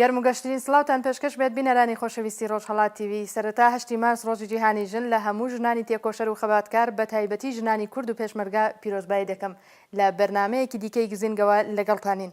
گەرم و گەشترین سڵاوتان پێشکەش بێت بینەرانی خۆشەویستی ڕۆژهەڵات تیڤی، سەرەتا هەشتی مارس ڕۆژی جیهانی ژن لە هەموو ژنانی تێکۆشەر و خەباتکار بە تایبەتی ژنانی کورد و پێشمەرگە پیرۆزبایی دەکەم، لە بەرنامەیەکی دیکەی گزینگەوە لەگەڵتانین.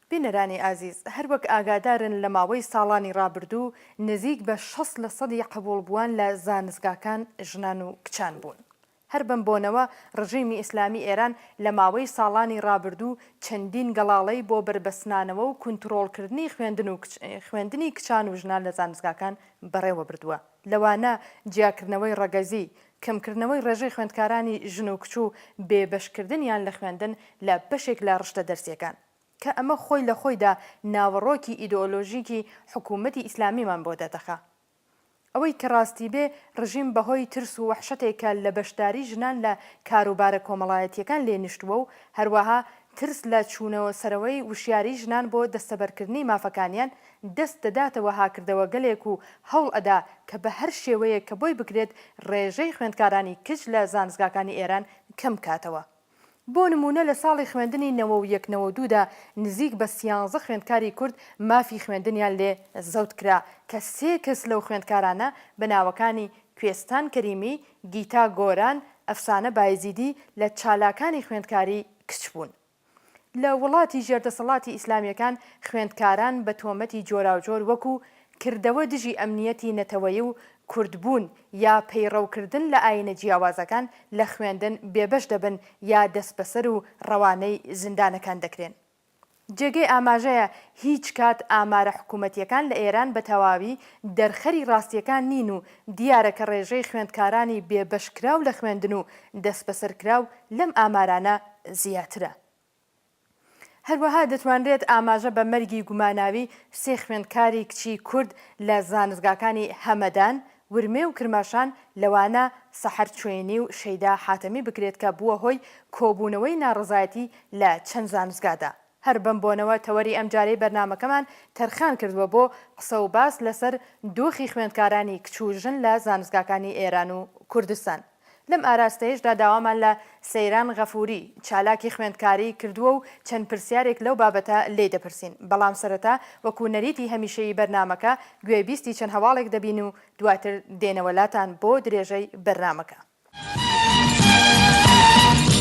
بینەرانی ئازیز هەر وەک ئاگادارن لە ماوەی ساڵانی ڕابردوو نزیک بە شەست لە سەدی قبوڵبووان لە زانستگاکان ژنان و کچان بوون. هەر بەم بۆنەوە ڕژیمی ئیسلامی ئێران لە ماوەی ساڵانی ڕابردوو چەندین گەڵاڵەی بۆ بەربەستنانەوە و کونتڕۆڵکردنی خوێندن و خوێندنی کچان و ژنان لە زانستگاکان بەڕێوە بردووە لەوانە جیاکردنەوەی ڕەگەزی، کەمکردنەوەی ڕێژەی خوێندکارانی ژن و کچ و بێبەشکردنیان لە خوێندن لە بەشێک لە ڕشتە دەرسییەکان. کە ئەمە خۆی لە خۆیدا ناوەڕۆکی ئیدۆلۆژیکی حکوومەتی ئیسلامیمان بۆ دەردەخا. ئەوەی کە ڕاستی بێ ڕژیم بە هۆی ترس و وەحشەتێک کە لە بەشداری ژنان لە کاروبارە کۆمەڵایەتییەکان لێ نیشتووە و هەروەها ترس لە چوونەوە سەرەوەی وشیاریی ژنان بۆ دەستەبەرکردنی مافەکانیان دەست دەداتە وەها کردەوەگەلێک و هەوڵ ئەدا کە بە هەر شێوەیەک کە بۆی بکرێت ڕێژەی خوێندکارانی کچ لە زانستگاکانی ئێران کەم کاتەوە. بۆ نموونە لە ساڵی خوێندنی نەوە و یەک نەوە دوو دا نزیک بە سیانزە خوێندکاری کورد مافی خوێندنیان لێ زەوت کرا کە سێ کەس لەو خوێندکارانە بە ناوەکانی کوێستان کەریمی، گیتا گۆران، ئەفسانە بایزیدی لە چالاکانی خوێندکاری کچ بوون. لە وڵاتی ژێردەسەڵاتی ئیسلامییەکان خوێندکاران بە تۆمەتی جۆراوجۆر وەکوو، کردەوە دژی ئەمنییەتی نەتەوەیی و کوردبوون یا پەیڕەوکردن لە ئایینە جیاوازەکان لە خوێندن بێبەش دەبن یا دەسبەسەر و ڕەوانەی زیندانەکان دەکرێن. جێگەی ئاماژەیە هیچ کات ئامارە حکوومەتییەکان لە ئێران بە تەواوی دەرخەری ڕاستییەکان نین و دیارە کە ڕێژەی خوێندکارانی بێبەشکراو لە خوێندن و دەسبەسەرکراو لەم ئامارانە زیاترە. هەروەها دەتوانرێت ئاماژە بە مەرگی گوماناوی سێ خوێندکاری کچی کورد لە زانستگاکانی هەمەدان، ورمێ و کرماشان لەوانە سەحەر چوێینی و شەیدا حاتەمی بکرێت کە بووە هۆی کۆبوونەوەی ناڕەزایەتی لە چەند زانستگادا. هەر بەم بۆنەوە تەوەری ئەمجارەی بەرنامەکەمان تەرخان کردووە بۆ قسە و باس لەسەر دۆخی خوێندکارانی کچ و ژن لە زانستگاکانی ئێران و کوردستان. لەم ئاراستەیەشدا داوامان لە، سەیران غەفوری، چالاکی خوێندکاری، کردووە و چەند پرسیارێک لەو بابەتە لێی دەپرسین، بەڵام سەرەتا وەکو نەریتی هەمیشەیی بەرنامەکە گوێ بیستی چەند هەواڵێک دەبین و دواتر دێنەوە لاتان بۆ درێژەی بەرنامەکە.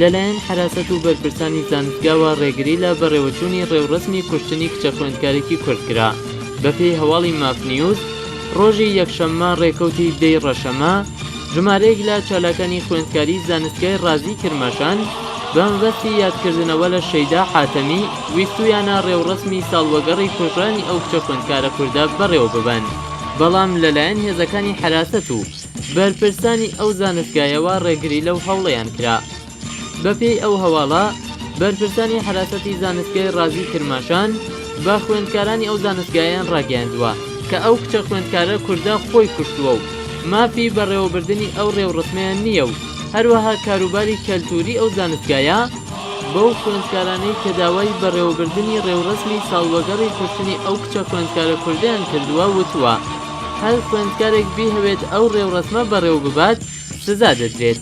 لەلایەن حەراسەت و بەرپرسانی زانستگاوە ڕێگری لە بەڕێوەچوونی ڕێوڕەسمی کوشتنی کچە خوێندکارێکی کورد کرا. بەپێی هەواڵی ماف نیوز، ڕۆژی یەکشەممە ڕێکەوتی دە ی ڕەشەمە، ژمارەیەک لە چالاکانی خوێندکاری زانستگای ڕازی کرماشان بەمەبەستی یادکردنەوە لە شەیدا حاتەمی، ویستوویانە ڕێوڕەسمی ساڵوەگەڕی کوژرانی ئەو کچە خوێندکارە کوردە بەڕێوەببەن، بەڵام لەلایەن هێزەکانی حەراسەت و. بەرپرسانی ئەو زانستگایەوە ڕێگری لەو هەوڵەیان کرا. بەپێی ئەو هەواڵە، بەرپرسانی حەراسەتی زانستگای ڕازی کرماشان بە خوێندکارانی ئەو زانستگایەیان ڕاگەیاندووە، کە ئەو کچە خوێندکارە کوردە خۆی کوشتووە و مافی بەڕێوەبردنی ئەو ڕێوڕەسمەیان نییە و هەروەها کاروباری کەلتووری ئەو زانستگایە بەو خوێندکارانەی کە داوای بەڕێوەبردنی ڕێوڕەسمی ساڵوەگەڕی کوشتنی ئەو کچە خوێندکارە کوردەیان کردووە وتووە. هەر خوێندکارێک بیهەوێت ئەو ڕێوڕەسمە بەڕێوەببات سزا دەدرێت.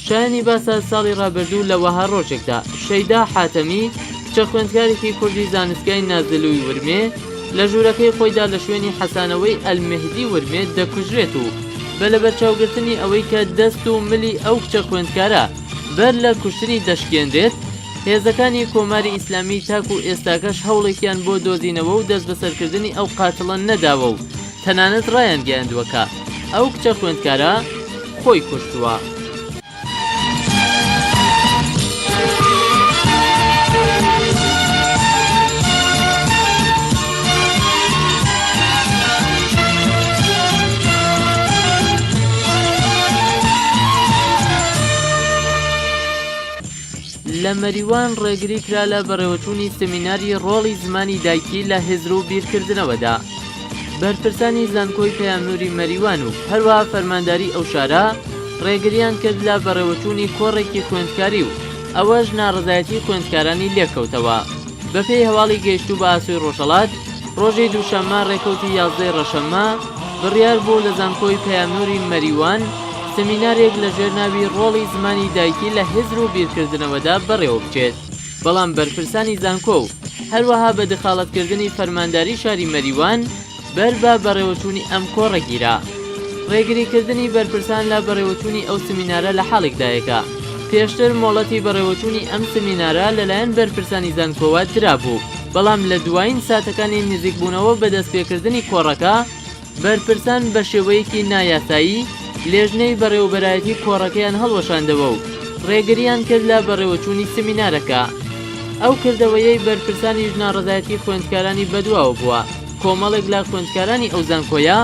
شایانی باسە ساڵی ڕابردوو لە وەها ڕۆژێکدا شەیدا حاتەمی کچە خوێندکارێکی کوردی زانستگای نازلوی ورمێ لە ژوورەکەی خۆیدا لە شوێنی حەسانەوەی ئەلمێهدی ورمێ دەکوژرێت و بە لەبەرچاوگرتنی ئەوەی کە دەست و ملی ئەو کچە خوێندکارە بەر لە کوشتنی دەشکێنرێت، هێزەکانی کۆماری ئیسلامی تاکو ئێستاکەش هەوڵێکیان بۆ دۆزینەوە و دەستبەسەرکردنی ئەو قاتڵە نەداوە و تەنانەت ڕایانگەیاندووە کە ئەو کچە خوێندکارە خۆی کوشتووە. لە مەریوان ڕێگری کرا لە بەڕێوەچوونی سمیناری ڕۆڵی زمانی دایکی لە هزر و بیرکردنەوەدا. بەرپرسانی زانکۆی پەیامنووری مەریوان و هەروەها فەرمانداری ئەو شارە ڕێگریان کرد لە بەڕێوەچوونی کۆڕێکی خوێندکاری و ئەوەش ناڕەزایەتی خوێندکارانی لێکەوتەوە. بەپێی هەواڵی گەیشتوو بە ئاسۆی ڕۆژهەڵات، ڕۆژی دووشەممە ڕێکەوتی یازدە ی ڕەشەممە، بڕیار بوو لە زانکۆی پەیامنووری مەریوان سمینارێک لە ژێر ناوی ڕۆڵی زمانی دایکی لە هزر و بیرکردنەوەدا بەڕێوە بچێت، بەڵام بەرپرسانی زانکۆ و هەروەها بە دخاڵەتکردنی فەرمانداری شاری مەریوان، بەر بە بەڕێوەچوونی ئەم کۆڕە گیرا. ڕێگریکردنی بەرپرسان لە بەڕێوەچوونی ئەو سمینارە لە حاڵێکدایە کە پێشتر مۆڵەتی بەڕێوەچوونی ئەم سمینارە لەلایەن بەرپرسانی زانکۆوە درابوو، بەڵام لە دوایین ساتەکانی نزیکبوونەوە بە دەستپێکردنی کۆڕەکە، بەرپرسان بە شێوەیەکی نایاسایی لێژنەی بەڕێوەبەرایەتی کۆڕەکەیان هەڵوەشاندەوە و ڕێگرییان کرد لە بەڕێوەچوونی سمینارەکە. ئەو کردەوەیەی بەرپرسانیش ناڕەزایەتی خوێندکارانی بەدواوە بووە. کۆمەڵێک لە خوێندکارانی ئەو زانکۆیە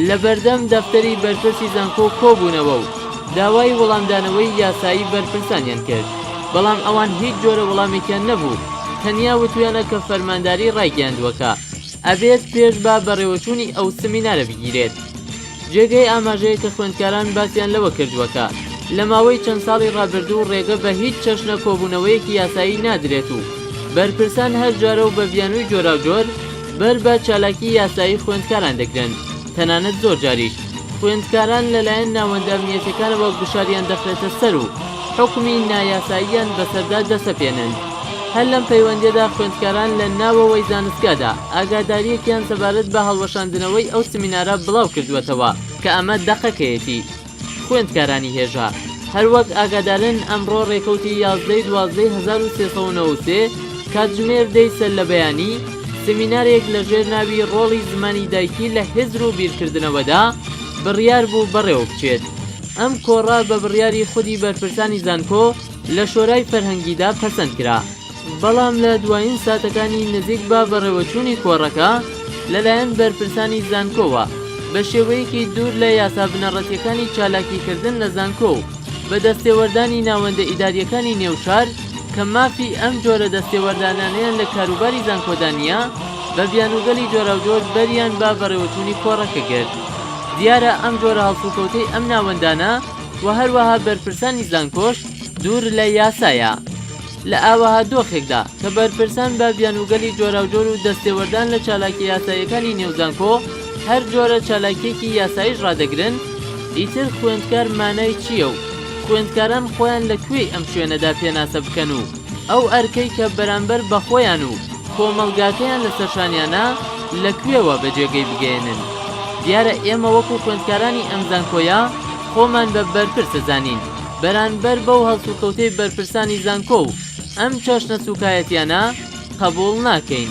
لە بەردەم دەفتەری بەرپرسی زانکۆ کۆبوونەوە و داوای وەڵامدانەوەی یاسایی بەرپرسانیان کرد بەڵام ئەوان هیچ جۆرە وەڵامێکیان نەبوو تەنیا وتویانە کە فەرمانداری ڕایگەیاندووە کە ئەبێت پێش بە بەڕێوەچوونی ئەو سمینارە بگیرێت. جێگەی ئاماژەیە کە خوێندکاران باسیان لەوە کردووە کە لە ماوەی چەند ساڵی ڕابردوو ڕێگە بە هیچ چەشنە کۆبوونەوەیەکی یاسایی نادرێت و بەرپرسان هەر جارە و بە بیانووی جۆراوجۆر بەر بە چالاکی یاسایی خوێندکاران دەگرن تەنانەت زۆر جاریش خوێندکاران لەلایەن ناوەندە ئەمنییەتیەکانەوە گوشاریان دەخرێتە سەر و حوکمی نایاساییان بەسەردا دەسەپێنن. هەر لەم پەیوەندییەدا خوێندکاران لە ناوەوەی زانستگادا ئاگادارییەکیان سەبارەت بە هەڵوەشاندنەوەی ئەو سمینارە بڵاو کردووەتەوە کە ئەمە دەقەکەیەتی خوێندکارانی هێژا هەروەک ئاگادارن ئەمڕۆ ڕێکەوتی یازدەی دوازدەی هەزار و سێ سەد و نەوەد و سێ کاتژمێر دەی سەرلەبەیانی سمینارێک لەژێر ناوی ڕۆڵی زمانی دایکی لە هزر و بیرکردنەوەدا بڕیار بوو بەڕێوە بچێت ئەم کۆڕە بە بڕیاری خودی بەرپرسانی زانکۆ لە شۆرای فەرهەنگیدا پەسەند کرا، بەڵام لە دوایین ساتەکانی نزیک بە بەڕێوەچوونی کۆڕەکە لەلایەن بەرپرسانی زانکۆوە بە شێوەیەکی دوور لە یاسا بنەڕەتییەکانی چالاکیکردن لە زانکۆ و بە دەستێوەردانی ناوەندە ئیدارییەکانی نێو شار کە مافی ئەم جۆرە دەستێوەردانانەیان لە کاروباری زانکۆدا نییە بە بیانووگەلی جۆراوجۆر بەریان بە بەڕێوەچوونی کۆڕەکە گرت. دیارە ئەم جۆرە هەڵسوکەوتەی ئەم ناوەندانە و هەروەها بەرپرسانی زانکۆش دوور لە یاسایە. لە ئاوەها دۆخێکدا کە بەرپرسان بە بیانووگەلی جۆراوجۆر و دەستێوەردان لە چالاکیە یاساییەکانی نێو زانکۆ هەر جۆرە چالاکیەکی یاساییش ڕادەگرن، ئیتر خوێندکار مانای چیە و خوێندکاران خۆیان لە کوێی ئەم شوێنەدا پێناسە بکەن و. ئەو ئەرکەی کە بەرامبەر بە خۆیان و کۆمەڵگاکەیان لەسەر شانیانە لە کوێوە بە جێگەی بگەیەنن؟ دیارە ئێمە وەکو خوێندکارانی ئەم زانکۆیە خۆمان بە بەرپرس دەزانین بەرانبەر بەو هەڵسوکەوتەی بەرپرسانی زانکۆ و ئەم چەشنە سوکایەتیانە قەبوڵ ناکەین.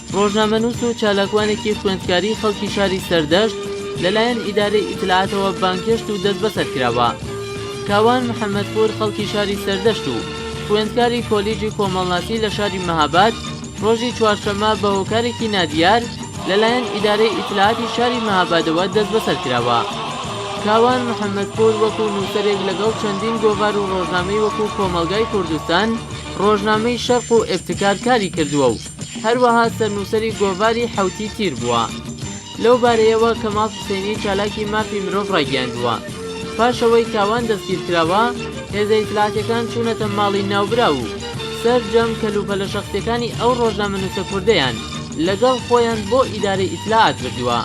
ڕۆژنامەنووس و چالاکوانێکی خوێندکاری خەڵکی شاری سەردەشت لەلایەن ئیدارەی ئیتلاعاتەوە بانگهێشت و دەستبەسەر کراوە. کاوان محەمەدپوور خەڵکی شاری سەردەشت و خوێندکاری کۆلیژی کۆمەڵناسی لە شاری مەهاباد ڕۆژی چوارشەممە بە هۆکارێکی نادیار لەلایەن ئیدارەی ئیتلاعاتی شاری مەهابادەوە دەستبەسەر کراوە. کاوان محەمەدپوور وەکوو نووسەرێک لەگەڵ چەندین گۆڤار و ڕۆژنامەی وەکوو کۆمەڵگای کوردستان، ڕۆژنامەی شەرق و ئیبتکار کاری کردووە و هەروەها سەرنووسەری گۆڤاری حەوتی تیر بووە. لەو بارەیەوە کەماڵ حسێنی چالاکی مافی مرۆڤ ڕایگەیاندووە، پاش ئەوەی تاوان دەستگیرکراوە، هێزە ئیتلاعاتییەکان چوونەتە ماڵی ناوبراو و سەرجەم کەلوپەلە شەخسییەکانی ئەو ڕۆژنامەنووسە کوردەیان لەگەڵ خۆیان بۆ ئیدارەی ئیتلاعات بردووە.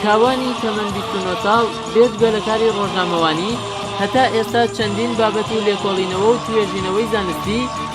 کاوانی تەمەن بیست و نۆ ساڵ بێجگە لە کاری ڕۆژنامەوانی، هەتا ئێستا چەندین بابەت و لێکۆڵینەوە و توێژینەوەی زانستی،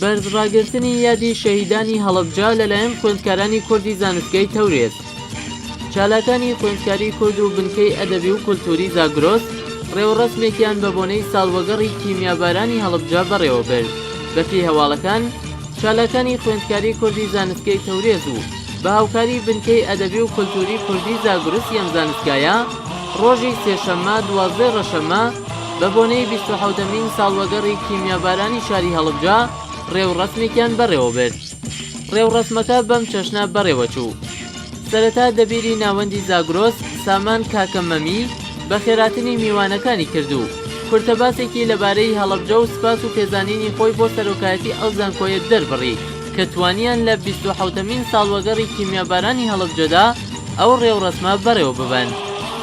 بەرز ڕاگرتنی یادی شەهیدانی هەڵەبجە لەلایەن خوێندکارانی کوردی زانستگەی تەورێز چالاکانی خوێندکاری کورد و بنکەی ئەدەبی و کولتووری زاگرۆس ڕێوڕەسمێکیان بە بۆنەی ساڵوەگەڕی کیمیابارانی هەڵەبجە بەڕێوەبرد بەپێی هەواڵەکان چالاکانی خوێندکاری کوردی زانستگەی تەورێز و بە هاوکاری بنکەی ئەدەبی و کولتووری کوردی زاگرسی ئەم زانستگایە ڕۆژی سێشەممە دوازدە ڕەشەممە بە بۆنەی بیست و حەوتەمین ساڵوەگەڕی کیمیابارانی شاری هەڵەبجە ڕێوڕەسمێکیان بەڕێوە برد ڕێوڕەسمەکە بەم چەشنە بەڕێوە چوو سەرەتا دەبیری ناوەندی زاگرۆس سامان کاکە مەمی بە خێراتنی میوانەکانی کرد و کورتە باسێکی لەبارەی هەڵەبجە و سپاس و پێزانینی خۆی بۆ سەرۆکایەتی ئەو زانکۆیە دەربڕی کە توانیان لە بیست و حەوتەمین ساڵوەگەڕی کیمیابارانی هەڵەبجەدا ئەو ڕێوڕەسمە بەڕێوەببەن.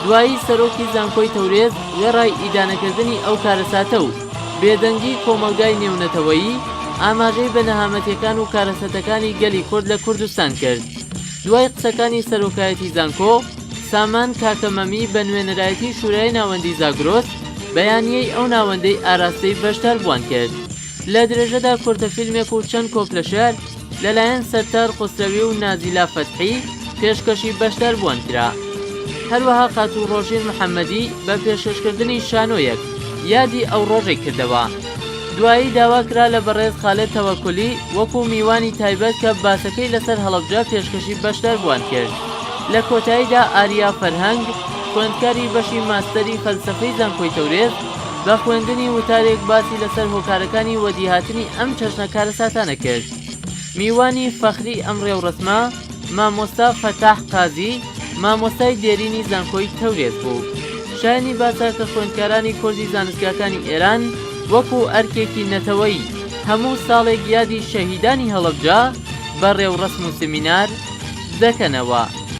دوایی سەرۆکی زانکۆی تەورێز وێڕای ئیدانەکردنی ئەو کارەساتە و بێدەنگی کۆمەڵگای نێونەتەوەیی، ئاماژەی بە نەهامەتیەکان و کارەسەتەکانی گەلی کورد لە کوردستان کرد. دوای قسەکانی سەرۆکایەتی زانکۆ، سامان کاکە مەمی بە نوێنەرایەتی شورای ناوەندی زاگرۆس بەیانیەی ئەو ناوەندەی ئاراستەی بەشداربووان کرد. لە درێژەدا کورتە فیلمێک و چەند کۆپلە شێعر لەلایەن سەتار خوسرەوی و نازیلا فەتحی پێشکەشی بەشداربووان کرا. هەروەها خاتوو ڕۆژین محەمەدی بە پێشکەشکردنی شانۆیەک یادی ئەو ڕۆژەی کردەوە. دوایی داوا کرا لە بەڕێز خالێد تەوەکولی وەکوو میوانی تایبەت کە باسەکەی لەسەر هەڵەبجە پێشکەشی بەشداربووان کرد. لە کۆتاییدا ئاریا فەرهەنگ خوێندکاری بەشی ماستەری فەلسەفەی زانکۆی تەورێز، بە خوێندنی وتارێک باسی لەسەر هۆکارەکانی وەدیهاتنی ئەم چەشنە کارەساتانە کرد میوانی فەخری ئەم ڕێوڕەسمە مامۆستا فەتاح قازی مامۆستای دێرینی زانکۆی تەورێز بوو شایانی باسە کە خوێندکارانی کۆرزی زانستگاکانی ئێران وەکو ئەرکێکی نەتەوەیی هەموو ساڵێک یادی شەهیدانی هەڵەبجە بە ڕێوڕەسم و سمینار دەکەنەوە.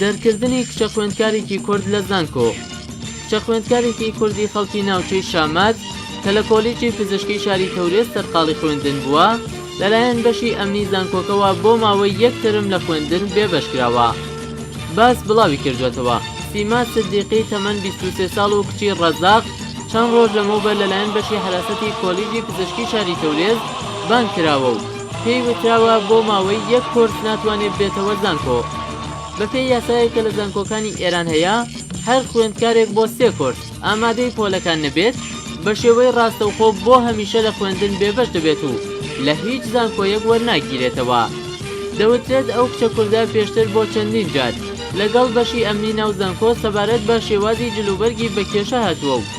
دەرکردنی کچە خوێندکارێکی کورد لە زانکۆ کچە خوێندکارێکی کوردی خەڵکی ناوچەی شامەت کە لە کۆلیجی پزیشکی شاری تەورێز سەرقاڵی خوێندن بووە لەلایەن بەشی ئەمنی زانکۆکەوە بۆ ماوەی یەک تەرم لە خوێندن بێبەش کراوە باس بڵاوی کردوێتەوە سیما سدیقی تەمەن 23 ساڵ و کچی ڕەزاق چەند ڕۆژ لەمەوبەر لەلایەن بەشی حراسەتی کۆلیجی پزیشکی شاری تەورێز بانگ کراوە و پێی وتراوە بۆ ماوەی یەک کۆرس ناتوانێت بێتەوە زانکۆ. بەپێی یاسایەک کە لە زانکۆکانی ئێران هەیە، هەر خوێندکارێک بۆ سێ کۆرس ئامادەی پۆلەکان نەبێت، بە شێوەی ڕاستەوخۆ بۆ هەمیشە لە خوێندن بێبەش دەبێت و لە هیچ زانکۆیەک وەرناگیرێتەوە. دەوترێت ئەو کچە کوردە پێشتر بۆ چەندین جار لەگەڵ بەشی ئەمنی ناو زانکۆ سەبارەت بە شێوازی جلوبەرگی بە کێشە هاتووە و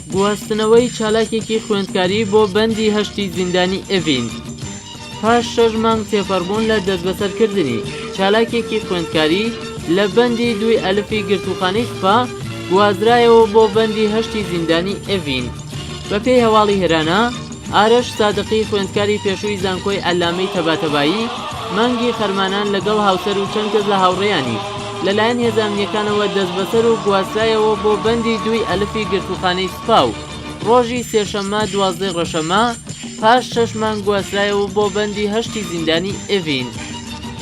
گواستنەوەی چالاکێکی خوێندکاری بۆ بەندی هەشتی زیندانی ئێڤین پاش شەش مانگ تێپەڕبوون لە دەستبەسەرکردنی چالاکێکی خوێندکاری لە بەندی دووی ئەلفی گرتووخانەی سپا گوازرایەوە بۆ بەندی هەشتی زیندانی ئێڤین بەپێی هەواڵی هێرانا ئارەش سادقی خوێندکاری پێشووی زانکۆی عەلامەی تەباتەبایی مانگی خەرمانان لەگەڵ هاوسەر و چەند کەس لە هاوڕێیانی لەلایەن هێزە ئەمنییەکانەوە دەستبەسەر و گواسترایەوە بۆ بەندی دووی ئەلفی گرتووخانەی سوپا و ڕۆژی سێشەممە دوازدە ڕەشەممە پاش شەش مانگ گواسترایەوە بۆ بەندی هەشتی زیندانی ئێڤین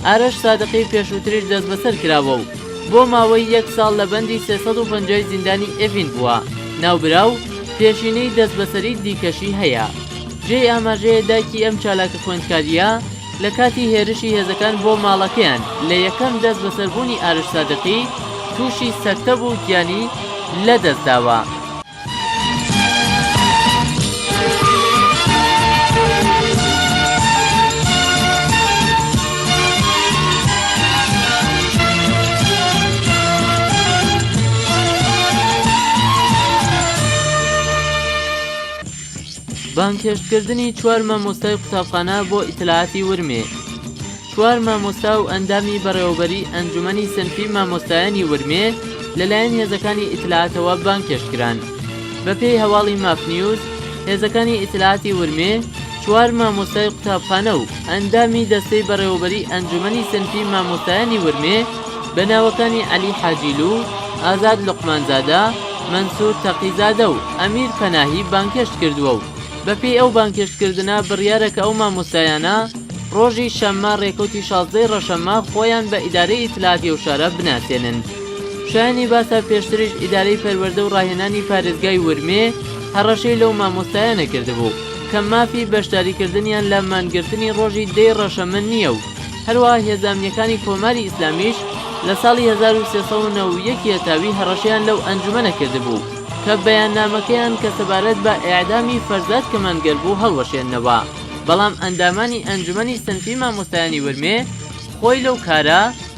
ئارەش سادقی پێشووتریش دەستبەسەر کراوە و بۆ ماوەی یەک ساڵ لە بەندی سێ سەد و پەنجای زیندانی ئێڤین بووە ناوبراو پێشینەی دەستبەسەری دیکەشی هەیە. جێی ئاماژەیە دایکی ئەم چالاکە خوێندکارییە لە کاتی هێرشی هێزەکان بۆ ماڵەکەیان لە یەکەم دەستبەسەربوونی ئارش سادقی تووشی سەکتە بوو و گیانی لەدەستداوە. بانگهێشتکردنی چوار مامۆستای قوتابخانە بۆ ئیتلاعاتی ورمێ چوار مامۆستا و ئەندامی بەڕێوەبەریی ئەنجومەنی سنفی مامۆستایانی ورمێ لەلایەن هێزەکانی ئیتلاعاتەوە بانگهێشتکران بەپێی هەواڵی ماف نیوز هێزەکانی ئیتلاعاتی ورمێ چوار مامۆستای قوتابخانە و ئەندامی دەستەی بەڕێوەبەریی ئەنجومەنی سنفی مامۆستایانی ورمێ بە ناوەکانی عەلی حاجیلو، ئازاد لوقمانزادە، مەنسور تەقیزادە و ئەمیر پەناهی بانگهێشت کردووە و بەپێی ئەو بانگهێشتکردنە بڕیارە کە ئەو مامۆستایانە ڕۆژی شەممە ڕێکەوتی شازدە ی ڕەشەممە خۆیان بە ئیدارەی ئیتلاعاتی ئەو شارە بناسێنن. شایەنی باسە پێشتریش ئیدارەی پەروەردە و ڕاهێنانی پارێزگای ورمێ هەڕەشەی لەو مامۆستایانە کردبوو. کە مافی بەشداریکردنیان لە مانگرتنی ڕۆژی دەی ڕەشەمە نییە و هەروەها هێزە ئەمنییەکانی کۆماری ئیسلامیش لە ساڵی هەزار و سێ سەد و نەوە و یەک یەتاوی هەڕەشەیان لەو ئەنجومەنە کردبوو کە بەیاننامەکەیان کە سەبارەت بە ئێعدامی فەرزاد کەمانگەر بوو هەڵوەشێننەوە بەڵام ئەندامانی ئەنجومەنی سنفی مامۆستایانی ورمێ خۆی لەو کارە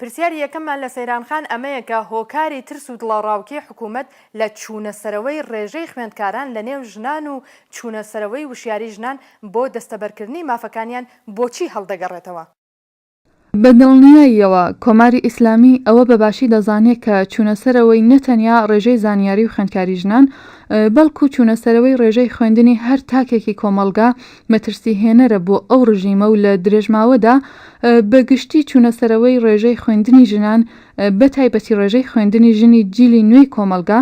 پرسیاری یەکەممان لە سەیران خان ئەمەیە کە هۆکاری ترس و دڵەڕاوکێی حکوومەت لە چوونەسەرەوەی ڕێژەی خوێندکاران لە نێو ژنان و چوونەسەرەوەی وشیاری ژنان بۆ دەستەبەرکردنی مافەکانیان بۆچی هەڵدەگەڕێتەوە؟ بە دڵنیاییەوە کۆماری ئیسلامی ئەوە بە باشی دەزانێ کە چوونەسەرەوەی نە تەنیا ڕێژەی زانیاری و خوێندکاری ژنان بەڵکوو چوونەسەرەوەی ڕێژەی خوێندنی هەر تاکێکی کۆمەڵگا مەترسی هێنەرە بۆ ئەو ڕژیمە و لە درێژماوەدا بە گشتی چوونە سەرەوەی ڕێژەی خوێندنی ژنان بە تایبەتی ڕێژەی خوێندنی ژنی جیلی نوێی کۆمەڵگا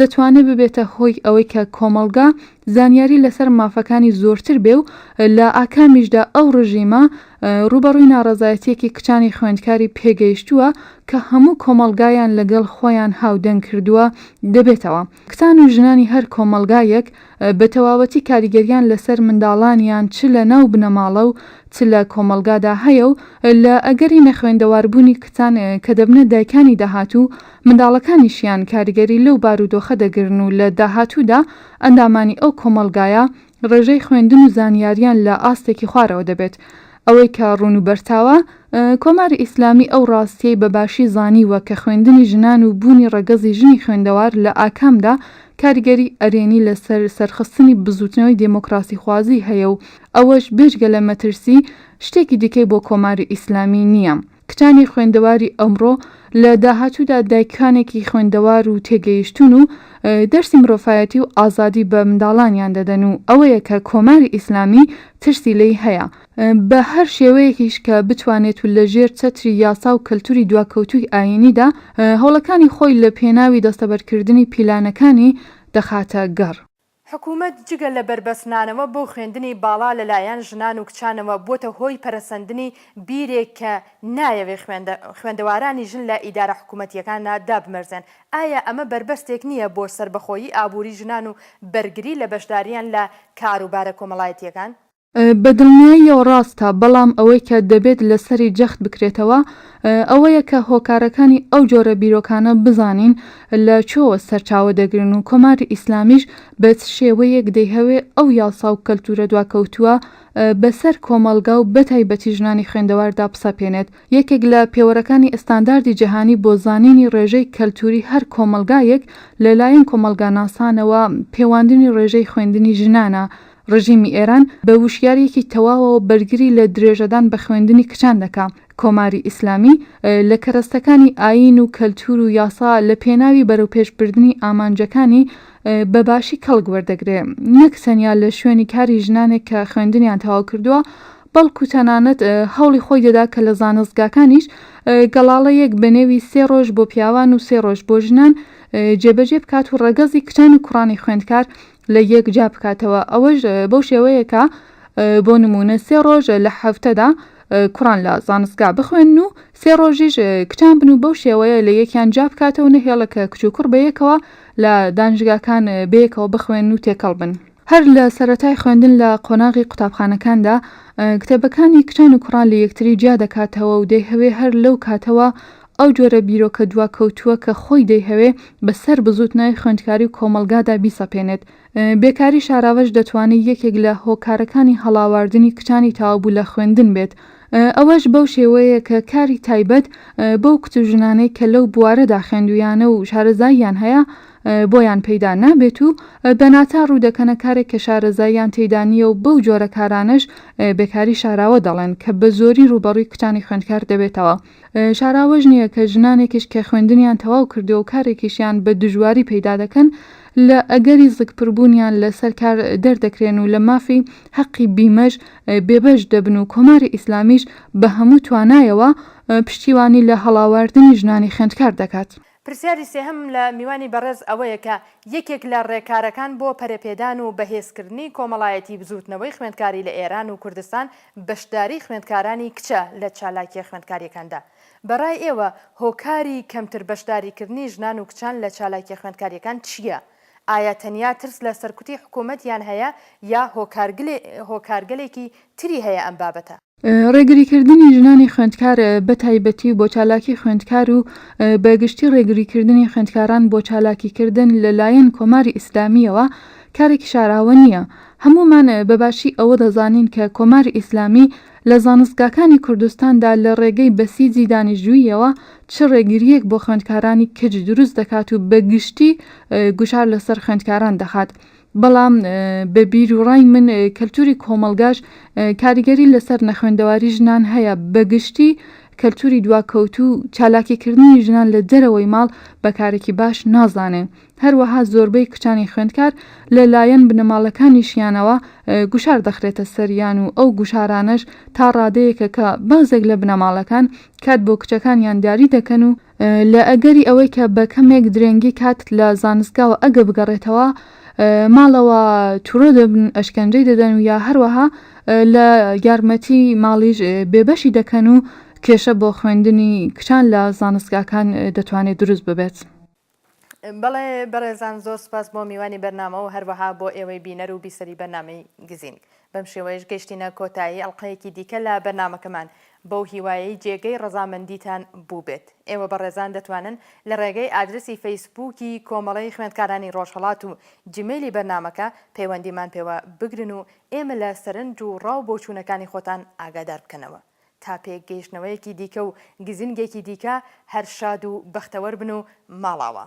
دەتوانێ ببێتە هۆی ئەوەی کە کۆمەڵگا زانیاری لەسەر مافەکانی زۆرتر بێ و لە ئاکامیشدا ئەو ڕژیمە ڕووبەڕووی ناڕەزایەتیەکی کچانی خوێندکاری پێگەیشتووە کە هەموو کۆمەڵگایان لەگەڵ خۆیان هاودەنگ کردووە دەبێتەوە. کچان و ژنانی هەر کۆمەڵگایەک بە تەواوەتی کاریگەریان لەسەر منداڵانیان چ لە ناو بنەماڵە و چ لە کۆمەڵگادا هەیە و لە ئەگەری نەخوێندەواربوونی کچان کە دەبنە دایکانی داهاتوو منداڵەکانیشیان کاریگەری لەو بارودۆخە دەگرن و لە داهاتوودا ئەندامانی ئەو کۆمەڵگایە ڕێژەی خوێندن و زانیاریان لە ئاستێکی خوارەوە دەبێت. ئەوەی کە ڕوون و بەرچاوە، کۆماری ئیسلامی ئەو ڕاستییەی بە باشی زانیوە کە خوێندنی ژنان و بوونی ڕەگەزی ژنی خوێندەوار لە ئاکامدا کاریگەری ئەرێنی لە سەر سەرخستنی بزووتنەوەی دێمۆکڕاسیخوازی هەیە و ئەوەش بێجگە لە مەترسی، شتێکی دیکەی بۆ کۆماری ئیسلامی نییە. کچانی خوێندەواری ئەمڕۆ لە داهاتوودا دایکانێکی خوێندەوار و تێگەیشتوون و دەرسی مرۆفایەتی و ئازادی بە منداڵانیان دەدەن و ئەوەیە کە کۆماری ئیسلامی ترسی لێی هەیە بە هەر شێوەیەکیش کە بتوانێت و لە ژێر چەتری یاسا و کەلتوری دواکەوتووی ئایینیدا هەوڵەکانی خۆی لە پێناوی دەستەبەرکردنی پیلانەکانی دەخاتە گەڕ. حکومەت جگە لە بەربەست نانەوە بۆ خوێندنی باڵا لە لایەن ژنان و کچانەوە بۆتە هۆی پەرەسەندنی بیرێک کە نایەوێ خوێندەوارانی ژن لە ئیدارە حکومەتیەکاندا دابمەرزێن ئایا ئەمە بەربەستێک نیە بۆ سەربەخۆیی ئابوری ژنان و بەرگری لە بەشداریان لە کاروبارە کۆمەڵایەتیەکان؟ بە دڵنیاییەوە ڕاستە، بەڵام ئەوەی کە دەبێت لەسەری جەخت بکرێتەوە ئەوەیە کە هۆکارەکانی ئەو جۆرە بیرۆکانە بزانین لە کوێوە سەرچاوە دەگرن و کۆماری ئیسلامیش بە چ شێوەیەک دەیهەوێ ئەو یاسا و کەلتوورە دواکەوتووە بەسەر کۆمەڵگا و بەتایبەتی ژنانی خوێندەواردا بسەپێنێت. یەکێک لە پێوەرەکانی ئەستانداردی جەهانی بۆ زانینی ڕێژەی کەلتووری هەر کۆمەڵگایەک لەلایەن کۆمەڵگاناسانەوە پێواندنی ڕێژەی خوێندنی ژنانە ڕژیمی ئێران بە وشیاریەکی تەواوەوە بەرگری لە درێژەدان بە خوێندنی کچان دەکا. کۆماری ئیسلامی لە کەرەستەکانی ئایین و کەلتوور و یاسا لە پێناوی بەرەوپێش بردنی ئامانجەکانی بە باشی کەڵک وەردەگرێ. نەک تەنیا لە شوێنی کاری ژنانێک کە خوێندنیان تەواو کردووە، بەڵکوو تەنانەت هەوڵی خۆی دەدا کە لە زانستگاکانیش گەڵاڵەیەک بە نێوی سێ ڕۆژ بۆ پیاوان و سێ ڕۆژ بۆ ژنان جێبەجێ بکات و ڕەگەزی کچان و کوڕانی خوێندکار لە یەک جیا بکاتەوە ئەوەش بەو شێوەیە کە بۆ نموونە سێ ڕۆژ لە حەفتەدا کوڕان لە زانستگا بخوێن و سێ ڕۆژیش کچان بن و بەو شێوەیە لە یەکیان جیا بکاتەوە نەهێڵە کە کچ و کوڕ بەیەکەوە لە دانشگاکان بەیەکەوە بخوێن و تێکەڵ بن. هەر لە سەرەتای خوێندن لە قۆناغی قوتابخانەکاندا کتێبەکانی کچان و کوڕان لە یەکتری جیا دەکاتەوە و دەیهەوێ هەر لەو کاتەوە ئەو جۆرە بیرۆکە دواکەوتووە کە خۆی دەیهەوێ بە سەر بزووتنەوەی خوێندکاری و کۆمەڵگادا بیسەپێنێت. بێکاری شاراوەش دەتوانێ یەکێک لە هۆکارەکانی هەڵاواردنی کچانی تەوابوو لە خوێندن بێت. ئەوەش بەو شێوەیە کە کاری تایبەت بەو کچ و ژنانەی کە لەو بوارەدا خوێندوویانە و شارەزاییان هەیە بۆیان پەیدا نابێت و بە ناچار ڕوو دەکەنە کارێک کە شارەزاییان تێیدا نییە و بەو جۆرە کارانەش بێکاری شاراوە دەڵێن کە بە زۆری ڕووبەڕووی کچانی خوێندکار دەبێتەوە. شارا ئەوەش نییە کە ژنانێکیش کە خوێندنیان تەواو کردووە و کارێکیشیان بە دژواری پەیدا دەکەن، لە ئەگەری زگپربوونیان لە سەر کار دەردەکرێن و لە مافی، حەقی بیمەش، بێبەش دەبن و کۆماری ئیسلامیش بە هەموو توانایەوە پشتیوانی لە هەڵاواردنی ژنانی خوێندکار دەکات. پرسیاری سێهەمم لە میوانی بەڕێز ئەوەیە کە یەکێک لە ڕێکارەکان بۆ پەرەپێدان و بەهێزکردنی کۆمەڵایەتی بزووتنەوەی خوێندکاری لە ئێران و کوردستان بەشداری خوێندکارانی کچە لە چالاکیە خوێندکاریەکاندا بە ڕای ئێوە هۆکاری کەمتر بەشداریکردنی ژنان و کچان لە چالاکیە خوێندکاریەکان چیە؟ ئایا تەنیا ترس لە سەرکوتی حکومەتیان هەیە یا هۆکارگلێ هۆکارگەلێکی تری هەیە ئەم بابەتە؟ ڕێگریکردنی ژنانی خوێندکار بە تایبەتی و بۆ چالاکی خوێندکار و بە گشتی ڕێگریکردنی خوێندکاران بۆ چالاکیکردن لە لایەن کۆماری ئیسلامییەوە کارێکی شاراوە نییە. هەموومان بە باشی ئەوە دەزانین کە کۆماری ئیسلامی لە زانستگاکانی کوردستاندا لە ڕێگەی بەسیجی دانیشجووییەوە چ ڕێگرییەک بۆ خوێندکارانی کچ دروست دەکات و بە گشتی گوشار لەسەر خوێندکاران دەخات. بەڵام بە بیروڕای من کەلتوری کۆمەڵگاش کاریگەری لەسەر نەخوێندەواری ژنان هەیە، بە گشتی کەلتوری دواکەوتوو چالاکیکردنی ژنان لە دەرەوەی ماڵ بە کارێکی باش نازانێ، هەروەها زۆربەی کچانی خوێندکار لە لایەن بنەماڵەکانیشیانەوە گوشار دەخرێتە سەریان و ئەو گوشارانەش تا ڕادەیەکە کە بەعزێک لە بنەماڵەکان کات بۆ کچەکانیان دیاری دەکەن و لە ئەگەری ئەوەی کە بە کەمێک درێنگی کاتت لە زانستگاوە ئەگە بگەڕێتەوە ماڵەوە تورۆ دەبن ئەشکەنجەی دەدەن و یا هەروەها لە یارمەتی ماڵیش بێبەشی دەکەن و کێشە بۆ خوێندنی کچان لە زانستگاکان دەتوانێت دروست ببێت. بەڵێ بەڕێزان زۆر سوپاس بۆ میوانی بەرنامە و هەروەها بۆ ئێوەی بینەر و بیسەری بەرنامەی گزینگ بەم شێوەیەش گەشتینە کۆتایی ئەڵلقەیەکی دیکە لە بەرنامەکەمان بەو هیوایەی جێگەی ڕەزامەندیتان بووبێت ئێوە بەڕێزان دەتوانن لە ڕێگەی ئادرسی فەیسبووکی کۆمەڵەی خوێندکارانی ڕۆژهەڵات و جیمەیلی بەرنامەکە پەیوەندیمان پێوە بگرن و ئێمە لە سەرنج و ڕاو بۆچوونەکانی خۆتان ئاگادار بکەنەوە تا پێک گەیشتنەوەیەکی دیکە و گزینگێکی دیکە هەر شاد و بەختەوەر بن و ماڵاوا.